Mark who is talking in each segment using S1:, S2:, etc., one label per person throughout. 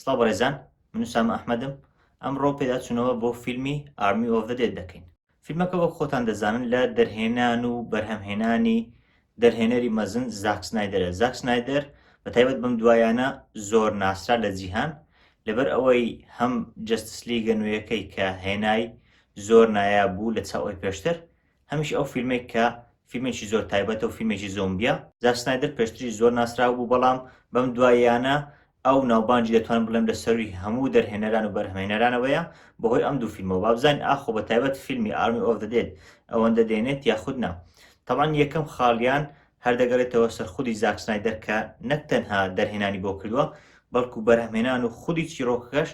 S1: سڵاو بەڕێزان من سامە ئەحمەدم ئەمڕۆ پێداچوونەوە بۆ فیلمی ئارمی ئۆف دە دێت دەکەین فیلمەکە وەک خۆتان دەزانن لە دەرهێنان و بەرهەمهێنانی دەرهێنەری مەزن زاک سنایدەرە، زاک سنایدەر بە تایبەت بەم دوایانە زۆر ناسرا لە جیهان، لەبەر ئەوەی هەم جەستس لیگە نوێیەکەی کە هێنای زۆر نایاب بوو لە چاو ئەوی پێشتر، هەمیش ئەو فیلمەی کە فیلمێکی زۆر تایبەتە و فیلمێکی زۆمبیە. زاک سنایدەر پێشتریش زۆر ناسراو بوو بەڵام بەم دواییانە ئەو ناوبانجی دەتوانم بڵێم لە سەرووی هەموو دەرهێنەران و بەرهەمهێنەرانەوەیە بەهۆی ئەم دوو فیلمەوە با بزانین ئاخۆ بە تایبەت فیلمی ئارمی ئۆف دە دێد ئەوەندە دێنێت یاخود نا تەبعەن یەکەم خاڵیان هەر دەگەڕێتەوە سەر خودی زاک سنایدەر کە نەک تەنها دەرهێنانی بۆ کردووە بەڵکو بەرهەمهێنان و خودی چیڕۆکەکەش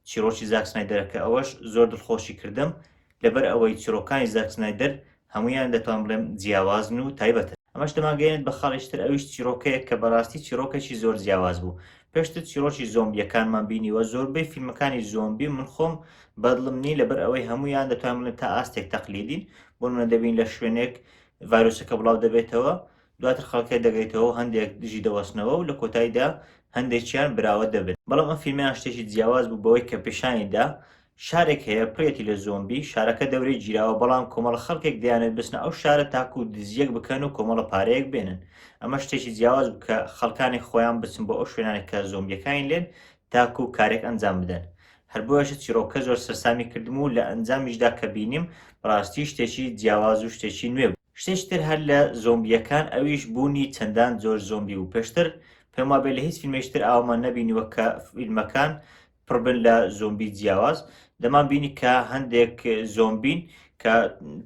S1: چیڕۆکی زاک سنایدەرە کە ئەوەش زۆر دڵخۆشی کردم لەبەر ئەوەی چیڕۆکانی زاک سنایدەر هەموویان دەتوان بڵێم جیاوازن و تایبەتن. ئەمەش دەمانگەیەنێت بە خاڵیش تر ئەویش چیڕۆکەیەک کە بەڕاستی چیڕۆکێکی زۆر جیاواز بوو. پێشتر چیڕۆکی زۆمبییەکانمان بینیوە، زۆربەی فیلمەکانی زۆمبی من خۆم بەدڵم نین لەبەر ئەوەی هەموویان دەتوان بڵێم تا ئاستێک تەقلیدین، بۆ نموونە دەبین لە شوێنێک ڤایرۆسەکە بڵاو دەبێتەوە، دواتر خەڵکەکە دەگەیتەوە و هەندێک دژی دەوەستنەوە و لە کۆتایدا هەندێکیان براوە دەبن. بەڵام ئەم فیلمەیان شتێکی جیاواز بوو بەوەی کە پیشانی دا شارێک هەیە پڕیەتی لە زۆمبی، شارەکە دەورەی گیراوە بەڵام کۆمەڵە خەڵکێک دەیانەوێت بچنە ئەو شارە تاکوو دزییەک بکەن و کۆمەڵە پارەیەک بێنن، ئەمە شتێکی جیاواز بوو کە خەڵکانی خۆیان بچن بۆ ئەو شوێنانە کە زۆمبییەکانی لێن تاکوو کارێک ئەنجام بدەن، هەر بۆیەشە چیڕۆکەکە زۆر سەرسامی کردم و لە ئەنجامیشدا کە بینیم بەڕاستی شتێکی جیاواز و شتێکی نوێ بوو. شتێکی تر هەر لە زۆمبییەکان ئەویش بوونی چەندان جۆر زۆمبی بوو، پێشتر پێم وابێت لە هیچ فیلمێکی تر ئاوامان نەبینیوە کە فیلمەکان پڕبن لە زۆمبی جیاواز دەمان بینی کە هەندێک زۆمبین کە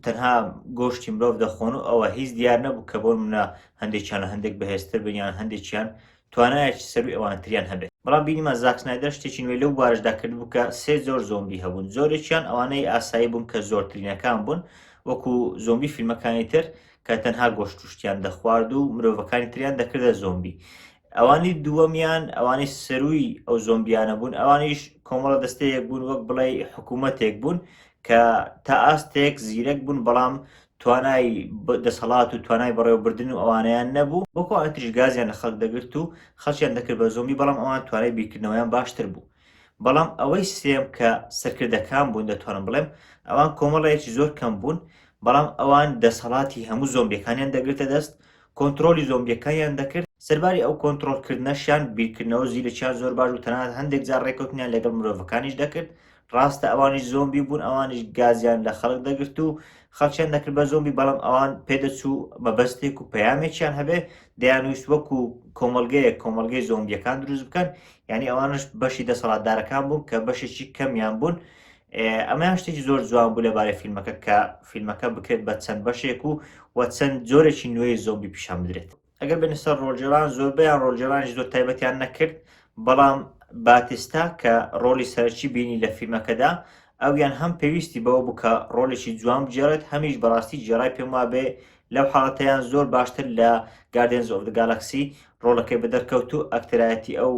S1: تەنها گۆشتی مرۆڤ دەخۆن و ئەوە هیچ دیار نەبوو کە بۆن منە هەندێکیان هەندێک بەهێزتر بنیان هەندێکیان توانایەکی سەروی ئەوانتریان هەبێت بەڵام بینیمە زاکسنایدەر شتێکی نوێ لەو بارشدا کرد بکە سێ زۆر زۆمبی هەبوون زۆرێکیان ئەوانەی ئاسایی بوون کە زۆرترینەکان بوون وەکو زۆمبی فیلمەکانی تر کە تەنها گۆشتشتیان دەخوارد و مرۆڤەکانی تریان دەکردە زۆمبی ئەوانی دووەمیان ئەوانی سەرووی ئەو زۆمبیانە بوون ئەوانیش کۆمەڵە دەستەیەک بوون وەک بڵێ حکوومەتێک بوون کە تا ئاستێک زیرەک بوون بەڵام توانای دەسەڵات و توانای بەڕێوەبردن و ئەوانیان نەبوو بۆکو ئەتریش گازیان لە خەڵک دەگرت و خەڵکیان دەکرد بە زۆمبی بەڵام ئەوان توانای بیرکردنەوەیان باشتر بوو بەڵام ئەوەی سێم کە سەرکردەکان بوون دەتوانم بڵێم ئەوان کۆمەڵەیەکی زۆر کەم بوون بەڵام ئەوان دەسەڵاتی هەموو زۆمبیەکانیان دەگرتە دەست کۆنترۆلی زۆمبیەکانیان دەکرد، سەرباری ئەو کۆنترۆل کردنەشیان بیرکردنەوە زیرەکیان زۆر باش بوو تەنانەت هەندێک جار ڕێکەوتنیان لەگەڵ مرۆڤەکانیش دەکرد، ڕاستە ئەوانیش زۆمبی بوون ئەوانیش گازیان لە خەڵک دەگرت و خەڵکیان دەکرد بە زۆمبی بەڵام ئەوان پێدەچوو مەبەستێک و پەیامێکیان هەبێ دەیانویست وەکو کۆمەلگەیەک کۆمەلگەی زۆمبیەکان دروست بکەن یعنی ئەوانش بەشی دەسەڵاتدارەکان بوون کە بەشێکی کەمیان بوون ئەمەیان شتێکی زۆر جوان بوو لەبارەی فیلمەکە کە فیلمەکە بکرێت بە چەند بەشێک و و چەند جۆرێکی نوێی زۆمبی پیشان بدرێت ئەگەر بێنە سەر ڕۆژێران زۆربیان ڕۆژێرانش زۆر تایبەتیان نەکرد بەڵام باتیستا کە ڕۆلی سەرچی بینی لە فیلمەکەدا ئەویان هەم پێویستی بەوە بوو کە ڕۆلێکی جوان بجێڕێت هەمیش بەڕاستی جێرای پێم وابێ لەو حاڵەتەیان زۆر باشتر لە گاردێنز ئۆف گالاکسی ڕۆڵەکەی بەدەرکەوت و ئەکتەرایەتی ئەو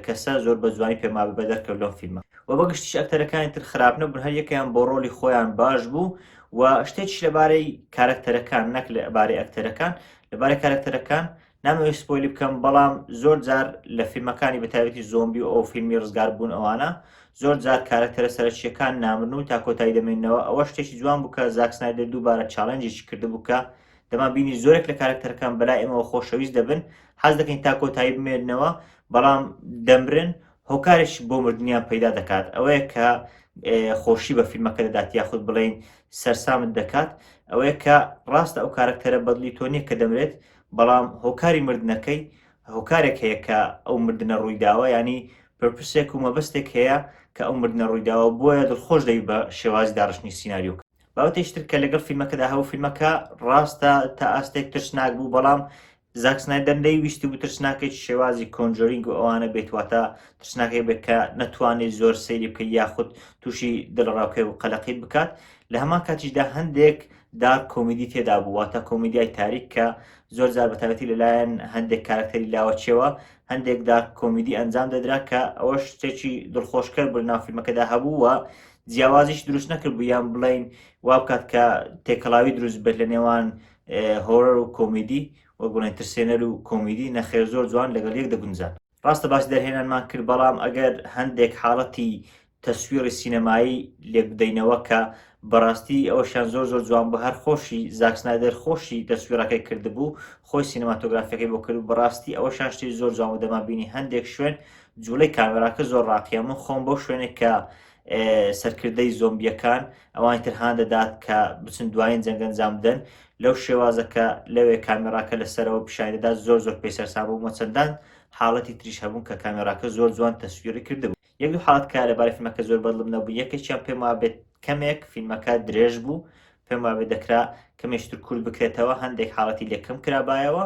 S1: کەسە زۆر بە جوانی پێما بەدەرکەوت لەم فیلمە و بەگشتیش ئەکتەرەکانی تر خراپ نەبوون هەر یەکەیان بۆ ڕۆلی خۆیان باش بوو و شتێکش لەبارەی کارەکتەرەکان نەک لەبارەی ئەکتەرەکان لەبارەی کارەکتەرەکان نامەوێت سپۆیلی بکەم بەڵام زۆر جار لە فیلمەکانی بەتابەتی زۆمبی و ئەو فیلمی ڕزگار بوون ئەوانە زۆر جار کارەکتەرە سەرچیەکان نامرن و تا کۆتایی دەمێنەوە ئەوە شتێکی جوان بووکە زاکسنایدە دووبارە چاڵنجێکی کردبوو کە دەمان بینی زۆرێک لە کارەکتەرەکان بەلای ئێمەوە خۆشەویست دەبن حەز دەکەین تا کۆتایی بمێننەوە بەڵام دەمرن هۆکارش بۆ مردنیان پەیدا دەکات ئەوەیە کە خۆشی بە فیلمەکە دەدات یاخود بڵین سەرسامت دەکات ئەوەیە کە ڕاستە ئەو کارکتەرە بەدلی تۆ نییە کە دەمرێت بەڵام هۆکاری مردنەکەی هۆکارێک هەیە کە ئەو مردنە ڕوویداوە ینی پرپسێک و مەبەستێک هەیە کە ئەو مردنە ڕوویداوە بۆیە دڵخۆش دەوی بە شێوازی داڕشتنی سینناریۆکە بابەتێکی تر کە لەگەڵ فیلمەکەدا هەبوو فیلمەکە ڕاستە تا ئاستێک ترسناک بوو بەڵام زاکسنای دەندەی ویستی بوو ترسناکێکی شێوازی کۆنجۆرینگ و ئەوانە بێتواتە ترسناکێک بێت کە نەتوانێت زۆر سەیری بکە یاخود تووشی دڵڕاوکێ و قەلەقیت بکات لە هەمان کاتیشدا هەندێک دار کۆمیدی تێدا بوو واتە کۆمیدیای تاریک کە زۆر زار بەتابەتی لەلایەن هەندێک کارکتەری لاوەچەوە هەندێک دار کۆمیدی ئەنجام دەدرا کە ئەوەش شتێکی دڵخۆشکەر بناو فیلمەکەدا هەبوو و جیاوازیش دروست نەکردبوو یان بڵین وا بکات کە تێکەڵاوی دروست بێت لە نێوان هۆرەر و کۆمیدی و گوڵێن ترسێنەر و کۆمیدی نەخێر زۆر جوان لەگەڵ یەک دەگونجان ڕاستە باس دەرهێنانمان کرد بەڵام ئەگەر هەندێک حاڵەتی تەسویڕی سینەمایی لێکبدەینەوە کە بەڕاستی ئەوشان زۆر زۆر جوان بە هەر خۆشی زاکسنایدەر خۆشی تەسویرەکەی کردبوو خۆی سینەماتۆگرافەکەی بۆ کرد بەڕاستی ئەوە شان شتی زۆر جوان و دەمابینی هەندێک شوێن جوڵەی کامێراکە زۆر ڕاقیە من خۆم بۆ شوێنێک کە سەرکردەی زۆمبیەکان ئەوانی تر هان دەدات کە بچن دوایین جەنگ ئەنجام بدەن لەو شێوازە کە لەوێ کامێراکە لەسەرەوە پیشاندەدات زۆر زۆر پێی سەرسام بوومە چەندان حاڵەتی تریش هەبوون کە کامێراکە زۆر جوان تەسویری کردبوو یەک دوو حاڵەت کە لەبارەی فیلمەکە زۆر بەدڵم نەبوو یەکێکیان پێم وابێت کەمێک فیلمەکە درێژ بوو پێم وابێ دەکرا کەمێش تر کورت بکرێتەوە هەندێک حاڵەتی لێ کەم کرابایەوە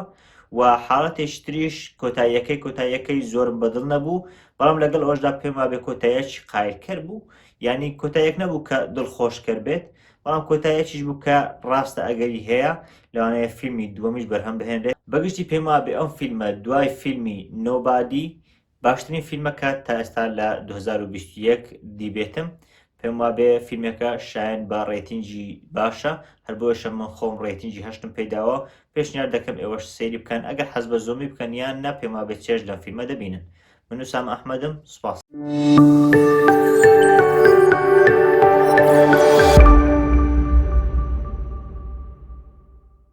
S1: و حاڵەتێش تریش کۆتاییەکەی کۆتاییەکەی زۆرم بەدڵ نەبوو بەڵام لەگەڵ ئەوشدا پێم وابێ کۆتایەکی قایلکەر بوو یعنی کۆتایەک نەبوو کە دڵخۆشکەر بێت بەڵام کۆتایەکیش بوو کە ڕاستە ئەگەری هەیە لەوانەیە فیلمی دووەمیش بەرهەم بهێنرێت بەگشتی پێم وابێ ئەم فیلمە دوای فیلمی نۆبادی باشترین فیلمە کە تا ئێستا لە دوو هەزار و بیست و یەک دیبێتم پێم وابێ فیلمەکە شایەن بە ڕێتینگی باشە هەر بۆیشە من خۆم ڕێتینگی هەشتم پێداوە پێشنیار دەکەم ئێوەش سەیری بکەن ئەگەر حەز بە زۆمی بکەن یان نا پێم وابێ چێژ لەم فیلمە دەبینن من وسام ئەحمەدم سوپاس